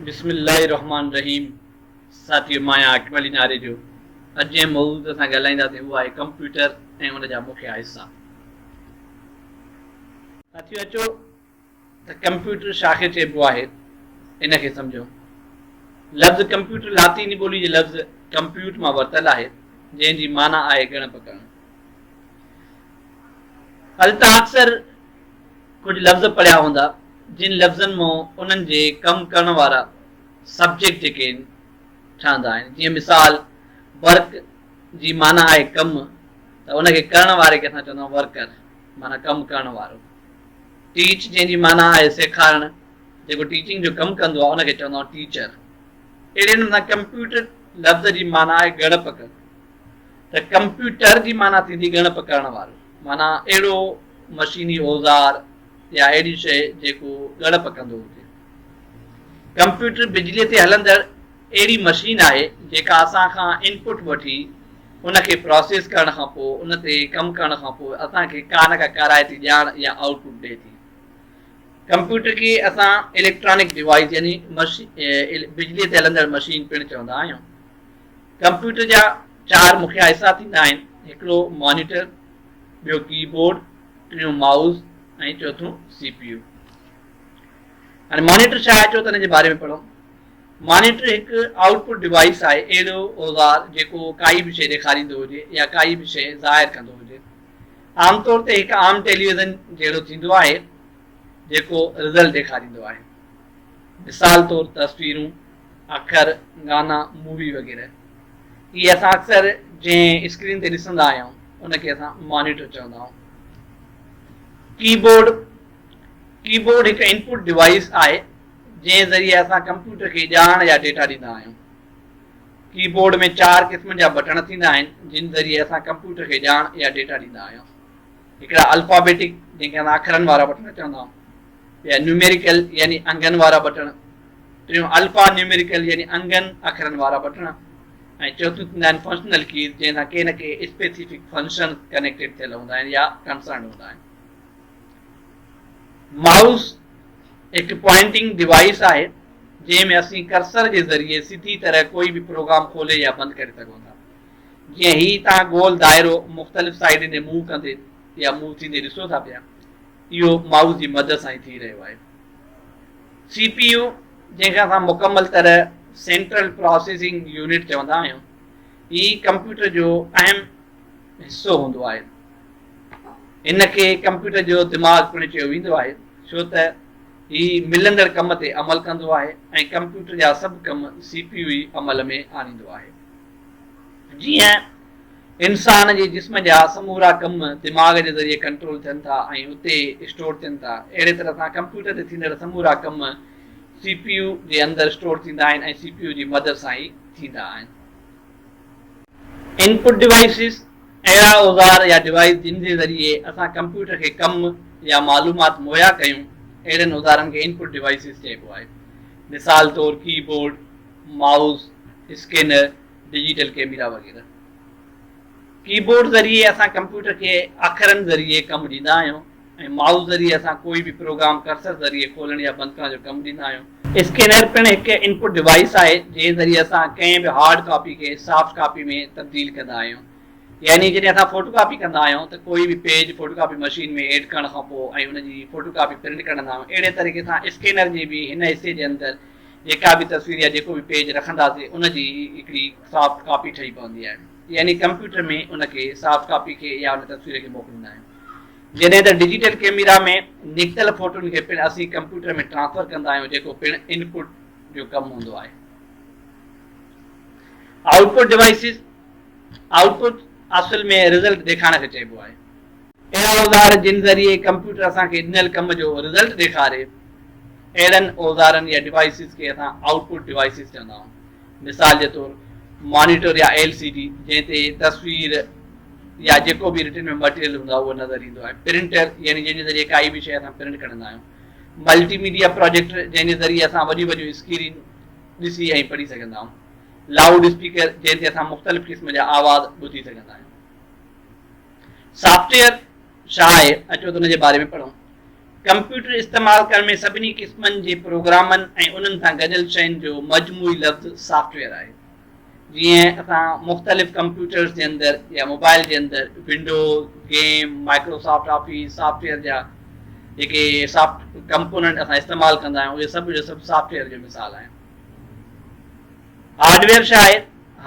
بسم الله الرحمٰن الرحيم ساٿيو مان آهيان عاقب علي ناري جو اڄ جنهن موضوع تي اسان ڳالهائينداسين اهو آهي ڪمپيوٽر ۽ ان جا مکيه حصا ساٿيو اچو ته ڪمپيوٽر شا کي چئبو آهي ان کي سمجھو لفظ ڪمپيوٽر لاطيني ٻولي جي لفظ ڪمپيوٽ مان ورتل آهي جنهن جي معنيٰ آهي ڳڻپ ڪرڻ هل توهان اڪثر ڪجهه لفظ پڙهيا هوندا جن لفظن مون انهن جي ڪم ڪرڻ وارا سبجيڪٽ جيڪي آهن ٺهندا آهن جيئن مثال ورڪ جي معنيٰ آهي ڪم ته ان کي ڪرڻ واري کي اسان چوندا آهيون ورڪر معنيٰ ڪم ڪرڻ وارو ٽيچ جنهن جي معنيٰ آهي سيکارڻ جيڪو ٽيچنگ جو ڪم ڪندو آهي ان کي چوندا آهيون ٽيچر اهڙي نمونا ڪمپيوٽر لفظ جي معنيٰ آهي ڳڙپ ڪرڻ ته ڪمپيوٽر جي معنيٰ ٿيندي ڳڻپ ڪرڻ وارو، معنيٰ اهڙو مشيني اوزار يا اهڙي شيء جيڪو ڳڻپ ڪندو هجي. ڪمپيوٽر بجليء تي هلندڙ اهڙي مشين آهي جيڪا اسان کان ان پٽ وٺي ان کي پراسيس ڪرڻ کان پوء ان تي ڪم ڪرڻ کان پوء اسان کي ڪا نه ڪا ڪارائتي ڄاڻ يا آئوٽ پٽ ڏئي ٿي. ڪمپيوٽر کي اسان اليڪٽرانڪ ڊوائيس يعني بجليء تي هلندڙ مشين پڻ چوندا آهيون. ڪمپيوٽر جا چار مکيه حصا ٿيندا آهن، هڪڙو مانيٽر، ٻيو ڪي بورڊ، ٽيون مائوس ۽ چوٿون سي پي يو. هاڻي مانيٽر ڇا اچو ته ان جي باري ۾ پڙهون. مانيٽر هڪ آئوٽ پٽ ڊوائيس آهي، اهڙو اوزار جيڪو ڪائي به شيء ڏيکاريندو هجي يا ڪائي به شيء ظاهر ڪندو هجي. عام طور تي هڪ عام ٽيليويزن جهڙو ٿيندو آهي جيڪو رزلٽ ڏيکاريندو آهي. مثال طور تصويرون، اکر، گانا، مووي وغيره. اهي اسان اڪثر جنهن اسڪرين تي ڏسندا آهيون ان کي اسان مانيٽر چوندا آهيون. ڪي بورڊ، ڪي بورڊ هڪ انپوٽ ڊوائيس آهي جنهن ذريعي اسان ڪمپيوٽر کي ڄاڻ يا ڊيٽا ڏيندا آهيون. ڪي بورڊ ۾ چار قسمن جا بٽڻ ٿيندا آهن جن ذريعي اسان ڪمپيوٽر کي ڄاڻ يا ڊيٽا ڏيندا آهيون. هڪڙا الفابيٽڪ جنهن کي اسان اکرن وارا بٽڻ چوندا آهيون. ٻيا نيوميريڪل يعني انگن وارا بٽڻ، ٽيون الفا نيوميريڪل يعني انگن اکرن وارا بٽڻ ۽ چوٿيون ٿيندا آهن فنڪشنل ڪيز جنهن سان ڪي نه ڪي اسپيسيفڪ فنڪشن ڪنيڪٽيڊ ٿيل هوندا آهن يا ڪنسرنڊ هوندا آهن. مائوس هڪ پوائنٽنگ ڊوائيس آهي جنهن ۾ اسين ڪرسر جي ذريعي سڌي طرح ڪوئي به پروگرام کولي يا بند ڪري سگهون ٿا. جيئن هي تان گول دائرو مختلف سائيڊن ڏي موو ڪندي يا موو ٿيندي ڏسو ٿا پيا. اهو مائوس جي مدد سان ئي ٿي رهيو آهي. سي پي يو جنهن کي اسان مڪمل طرح سينٽرل پراسيسنگ يونٽ چوندا آهيون هي ڪمپيوٽر جو اهم حصو هوندو آهي. هن کي ڪمپيوٽر جو دماغ پڻ چيو ويندو آهي ڇو ته هي ملندڙ ڪم تي عمل ڪندو آهي ۽ ڪمپيوٽر جا سڀ ڪم سي پي يو ئي عمل ۾ آڻيندو آهي. جيئن انسان جي جسم جا سمورا ڪم دماغ جي ذريعي ڪنٽرول ٿين ٿا ۽ اتي اسٽور ٿين ٿا. اهڙي طرح سان ڪمپيوٽر تي ٿيندڙ سمورا ڪم سي پي يو جي اندر اسٽور ٿيندا آهن ۽ سي پي يو جي مدد سان ئي ٿيندا آهن. ان پٽ ڊوائيسز، اهڙا اوزار يا ڊوائيس جن جي ذريعي اسان ڪمپيوٽر کي ڪم يا معلومات مهيا ڪيون، اهڙن اوزارن کي ان پٽ ڊوائيسز چئبو آهي. مثال طور keyboard, mouse, scanner, digital camera وغيره ڪيبورڊ ذريعي اسان ڪمپيوٽر کي اکرن ذريعي ڪم ڏيندا آهيون ۽ مائوس ذريعي اسان ڪوئي به پروگرام ڪرسر ذريعي کولڻ يا بند ڪرڻ جو ڪم ڏيندا آهيون. اسڪينر پڻ هڪ انپٽ ڊوائيس آهي جنهن ذريعي اسان ڪنهن به هارڊ ڪاپي کي سافٽ ڪاپي ۾ تبديل ڪندا آهيون يعني جڏهن اسان فوٽو ڪاپي ڪندا آهيون ته ڪوئي به page photocopy machine ۾ add ڪرڻ کان پوء ۽ ان جي فوٽو ڪاپي پرنٽ ڪڍندا آهيون اهڙي طريقي سان اسڪينر جي به هن حصي جي اندر جيڪا به تصوير يا جيڪو به پيج رکنداسين ان جي هڪڙي سافٽ ڪاپي ٺهي پوندي آهي يعني ڪمپيوٽر ۾ ان کي سافٽ ڪاپي کي يا ان تصوير کي موڪليندا آهيون جڏهن ته ڊجيٽل ڪيميرا ۾ نڪتل فوٽون کي پڻ اسين ڪمپيوٽر ۾ ٽرانسفر ڪندا آهيون جيڪو پڻ ان پٽ جو ڪم هوندو آهي آئوٽ پٽ ڊوائسز آئوٽ پٽ اصل ۾ رزلٽ ڏيکارڻ کي چئبو آهي اهڙا اوزار جن ذريعي ڪمپيوٽر اسان کي ڏنل ڪم جو رزلٽ ڏيکاري، اهڙن اوزارن يا ڊوائيسز کي اسان آئوٽ پٽ ڊوائيسز چوندا آهيون. مثال جي طور مانيٽر يا ايل سي ڊي جنهن تي تصوير يا جيڪو به رٽن ۾ مٽيريل هوندو آهي اهو نظر ايندو آهي. پرنٽر يعني جنهن جي ذريعي ڪائي به شيء اسان پرنٽ ڪڍندا آهيون. ملٽي ميڊيا پراجيڪٽر جنهن جي ذريعي اسان وڏيون وڏيون اسڪرين ڏسي ۽ پڙهي سگهندا آهيون. لائوڊ اسپيڪر جنهن تي اسان مختلف قسم جا آواز ٻڌي سگهندا آهيون. سافٽ ويئر ڇا آهي؟ اچو ته ان جي باري ۾ پڙهون. ڪمپيوٽر استعمال ڪرڻ ۾ سڀني قسمن جي پروگرامن ۽ انهن سان گڏيل شين جو مجموعي لفظ سافٽ ويئر آهي. جيئن اسان مختلف ڪمپيوٽرز جي اندر يا موبائل جي اندر Windows, game, Microsoft Office, software جا جيڪي سافٽ ڪمپوننٽ اسان استعمال ڪندا آهيون اهي سڀ جو سڀ سافٽ ويئر جو مثال آهن. هارڊويئر ڇا آهي؟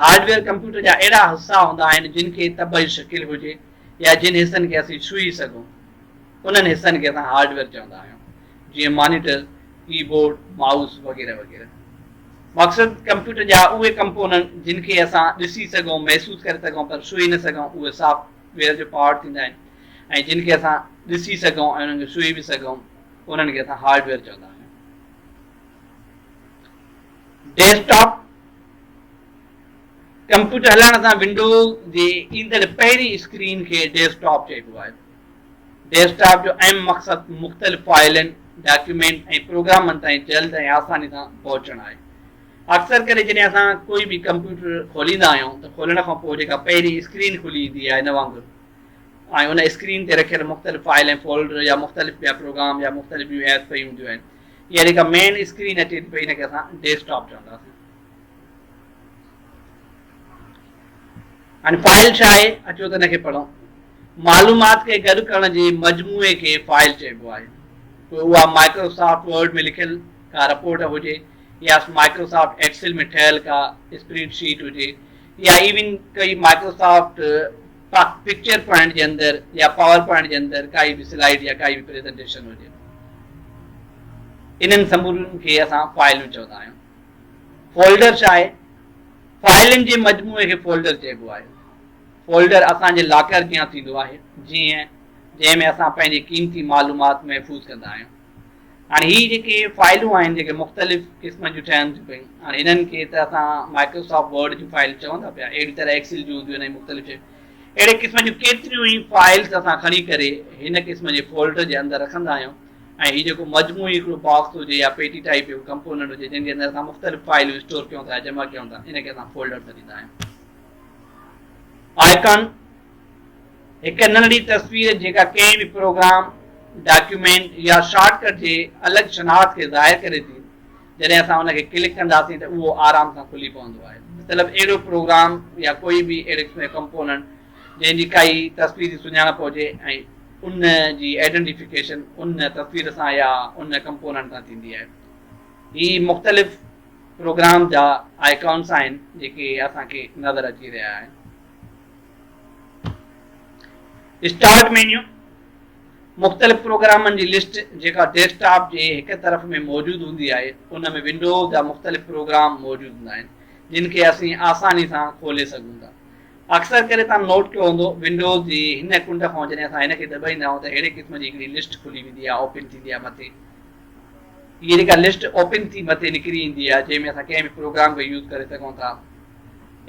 هارڊويئر ڪمپيوٽر جا اهڙا حصا هوندا آهن جن کي طبعي شڪل هجي يا جن حصن کي اسين ڇهي سگهون انهن حصن کي اسان هارڊويئر چوندا آهيون جيئن مانيٽر، ڪي بورڊ، مائوس وغيره وغيره. مقصد ڪمپيوٽر جا اهي ڪمپوننٽ جن کي اسان ڏسي سگهون، محسوس ڪري سگهون پر ڇهي نه سگهون اهي سافٽ ويئر جو پارٽ ٿيندا آهن ۽ جن کي اسان ڏسي سگهون ۽ انهن کي ڇهي به سگهون انهن کي اسان هارڊويئر چوندا آهيون. ڊيسڪٽاپ ڪمپيوٽر هلائڻ سان ونڊوز جي ايندڙ پهرين اسڪرين کي ڊيسڪٽاپ چئبو آهي ڊيسڪٽاپ جو اهم مقصد مختلف فائلن ڊاڪيومينٽ ۽ پروگرامن تائين جلد ۽ آساني سان پهچڻ آهي اڪثر ڪري جڏهن اسان ڪوئي به ڪمپيوٽر کوليندا آهيون ته کولڻ کان پوء جيڪا پهرين اسڪرين کلي ايندي آهي ان وانگر ۽ ان اسڪرين تي رکيل مختلف فائل ۽ فولڊر يا مختلف ٻيا پروگرام يا مختلف ٻيون ايپس پيون هونديون آهن اها جيڪا مين اسڪرين اچي ٿي پئي ان کي اسان ڊيسڪ ٽاپ چونداسين هاڻي فائل ڇا آهي اچو ته ان کي پڙهون معلومات کي گڏ ڪرڻ جي مجموعي کي فائل چئبو آهي پوء اها مائڪروسافٽ ورڊ ۾ لکيل ڪا رپورٽ هجي يا مائڪروسافٽ ايڪسل ۾ ٺهيل ڪا اسپريڊ شيٽ هجي يا ايون ڪئي مائڪروسافٽ ڪا پڪچر پوائنٽ جي اندر يا پاور پوائنٽ جي اندر ڪائي به سلائيڊ يا ڪائي به پريزنٽيشن هجي انهن سمورن کي اسان فائلون چوندا آهيون. فولڊر ڇا آهي؟ فائلن جي مجموعي کي فولڊر چئبو آهي. فولڊر اسان جي لاڪر جيان ٿيندو آهي جيئن جنهن ۾ اسان پنهنجي قيمتي معلومات محفوظ ڪندا آهيون. هاڻي هي جيڪي فائلون آهن جيڪي مختلف قسمن جون ٺهن ٿيون پيون هاڻي انهن کي ته اسان مائڪروسافٽ ورڊ جون فائل چون ٿا پيا اهڙي طرح ايڪسل جون هونديون آهن مختلف شيون اهڙي قسم جون ڪيتريون ئي فائلز اسان کڻي ڪري هن قسم جي فولڊر جي اندر رکندا آهيون ۽ هي جيڪو مجموعي هڪڙو باڪس هجي يا پيٽي ٽائپ جو ڪمپوننٽ هجي جن جي اندر اسان مختلف فائلون اسٽور ڪيون ٿا جمع ڪيون ٿا ان کي اسان فولڊر سڏيندا آهيون آئڪن هڪ ننڍڙي تصوير جيڪا ڪنهن به پروگرام، ڊاڪيومينٽ يا شارٽ ڪٽ جي الڳ شناخت کي ظاهر ڪري ٿي، جڏهن اسان ان کي ڪلڪ ڪنداسين ته اهو آرام سان کلي پوندو آهي. مطلب اهڙو پروگرام يا ڪوئي به ايڊڪس ۾ ڪمپوننٽ جنهن جي ڪائي تصويري سڃاڻپ هجي ۽ ان جي آئيڊنٽيفڪيشن ان تصوير سان يا ان ڪمپوننٽ سان ٿيندي آهي. هي مختلف پروگرام جا آئيڪانس آهن جيڪي اسان کي نظر اچي رهيا آهن. اسٽارٽ مينيو، مختلف پروگرامن جي لسٽ جيڪا ڊيسڪ ٽاپ جي هڪ طرف ۾ موجود هوندي آهي ان ۾ ونڊو جا مختلف پروگرام موجود هوندا آهن جن کي اسين آساني سان کولي سگهون ٿا اڪثر ڪري تان نوٽ ڪيو هوندو ونڊو جي هن ڪنڊ کان جڏهن اسان هن کي دٻائيندا آهيون ته اهڙي قسم جي هڪڙي لسٽ کلي ويندي آهي اوپن ٿيندي آهي مٿي هي جيڪا لسٽ اوپن ٿي مٿي نڪري ايندي آهي جنهن ۾ اسان ڪنهن به پروگرام کي يوز ڪري سگهون ٿا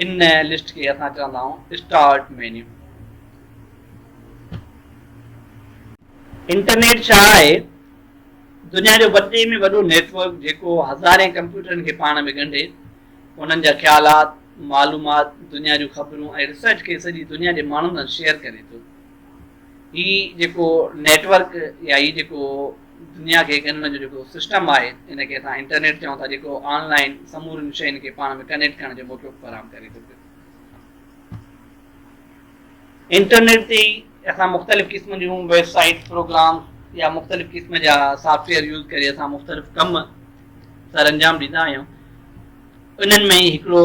ان لسٽ کي اسان چوندا آهيون اسٽارٽ مينيو. انٽرنيٽ ڇا آهي؟ دنيا جو وڏي ۾ وڏو نيٽ ورڪ جيڪو هزارين ڪمپيوٽرن کي پاڻ ۾ ڳنڍي انهن جا خيالات، معلومات، دنيا جون خبرون ۽ ريسرچ کي سڄي دنيا جي ماڻهن سان شيئر ڪري ٿو. هي جيڪو نيٽ ورڪ يا هي جيڪو دنيا کي هڪ هن جو جيڪو سسٽم آهي ان کي اسان انٽرنيٽ چئون ٿا جيڪو آن لائين سمورين شين کي پاڻ ۾ ڪنيڪٽ ڪرڻ جو موقعو فراهم ڪري ٿو پيو. انٽرنيٽ تي ئي اسان مختلف قسم جون ويب سائيٽ پروگرام يا مختلف قسم جا سافٽ ويئر يوز ڪري اسان مختلف ڪم سر انجام ڏيندا آهيون انهن ۾ هڪڙو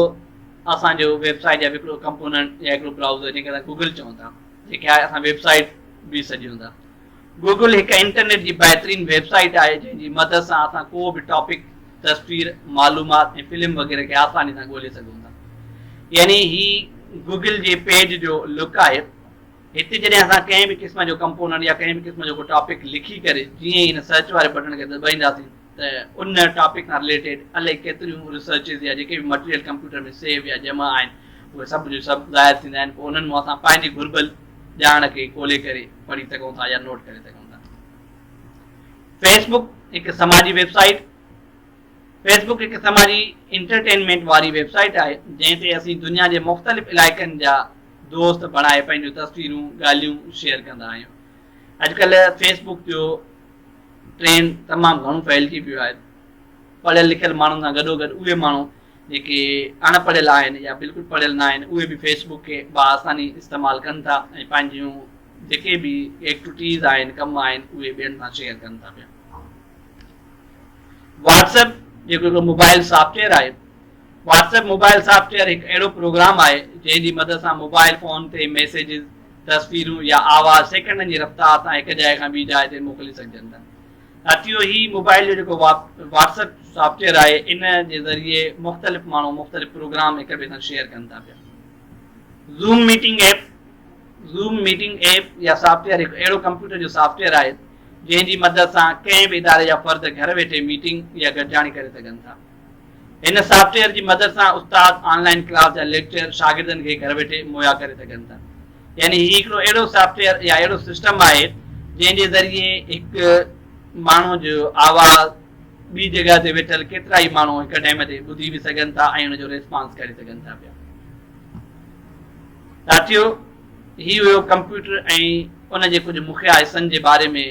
اسان جو ويب سائيٽ جا به هڪڙو ڪمپوننٽ يا هڪڙو برائوزر جنهن کي اسان گوگل چئون ٿا جنهن کي اسان ويب سائيٽ به سڏيون ٿا. گوگل هڪ انٽرنيٽ جي بهترين ويب سائيٽ آهي جنهن جي مدد سان اسان ڪو به ٽاپڪ، تصوير، معلومات ۽ فلم وغيره کي آساني سان ڳولي سگهون ٿا. يعني هي گوگل جي پيج جو لڪ آهي. هتي جڏهن اسان ڪنهن به قسم جو ڪمپوننٽ يا ڪنهن به قسم جو ڪو ٽاپڪ لکي ڪري جيئن ئي هن سرچ واري بٽڻ کي دٻائينداسين ته ان ٽاپڪ سان رليٽيڊ الائي ڪيتريون ريسرچز يا جيڪي به مٽيريل ڪمپيوٽر ۾ سيو يا جمع آهن اهي سڀ جو سڀ ظاهر ٿيندا آهن پوء انهن مان اسان پنهنجي گهربل ڄاڻ کي کولي ڪري پڙهي سگهون ٿا يا نوٽ ڪري سگهون ٿا فيس بڪ هڪ سماجي ويب سائيٽ فيس بڪ هڪ سماجي انٽرٽينمينٽ واري ويب سائيٽ آهي جنهن تي اسين دنيا جي مختلف علائقن جا دوست بڻائي پنهنجون تصويرون ڳالهيون شيئر ڪندا آهيون اڄڪلهه فيس بڪ جو ٽرينڊ تمام گهڻو ڦهلجي پيو آهي. پڙهيل لکيل ماڻهن سان گڏوگڏ اهي ماڻهو جيڪي اڻ پڙهيل آهن يا بلڪل پڙهيل ناهن اهي به فيس بڪ کي بآساني استعمال ڪن ٿا ۽ پنهنجيون جيڪي به ايڪٽوٽيز آهن ڪم آهن اهي ٻين سان شيئر ڪن ٿا پيا. واٽس ايپ جيڪو هڪڙو موبائل سافٽويئر آهي. واٽس ايپ موبائل سافٽويئر هڪ اهڙو پروگرام آهي جنهن جي مدد سان موبائل فون تي ميسيجز تصويرون يا آواز سيڪنڊن جي رفتار سان هڪ جاء کان ٻي جاء تي موڪلي سگهجن ٿا. ساٿيو هي موبائل جو جيڪو واٽس اپ سافٽ ويئر آهي ان جي ذريعي مختلف ماڻهو مختلف پروگرام هڪ ٻئي سان شيئر ڪن ٿا پيا. Zoom meeting app, Zoom Meeting App، يا سافٽ ويئر هڪ اهڙو ڪمپيوٽر جو سافٽ ويئر آهي جنهن جي مدد سان ڪنهن به اداري جا فرد گهر ويٺي ميٽنگ يا گڏجاڻي ڪري سگهن ٿا. هن سافٽ ويئر جي مدد سان استاد آن لائن ڪلاس جا ليڪچر شاگردن کي گهر ويٺي مهيا ڪري سگهن ٿا. يعني هي هڪڙو اهڙو سافٽ ويئر يا اهڙو سسٽم آهي جنهن جي ذريعي هڪ ماڻهو جو آواز ٻي جڳهه تي ويٺل ڪيترا ئي ماڻهو هڪ ٽائيم تي ٻڌي به سگهن ٿا ۽ ان جو ريسپانس ڪري سگهن ٿا پيا. ساٿيو هي هيو ڪمپيوٽر ۽ ان جي ڪجهه مکيه حصن جي باري ۾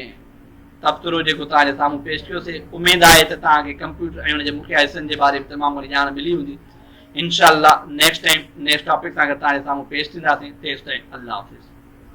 تبصرو جيڪو توهان جي سامهون پيش ڪيو سي اميد آهي ته توهان کي ڪمپيوٽر ۽ ان جي مکيه حصن جي باري ۾ تمام گهڻي ڄاڻ ملي هوندي انشاء الله نيڪسٽ ٽائيم نيڪسٽ ٽاپڪ سان گڏ توهان جي سامهون پيش ٿينداسين تيستائين الله حافظ.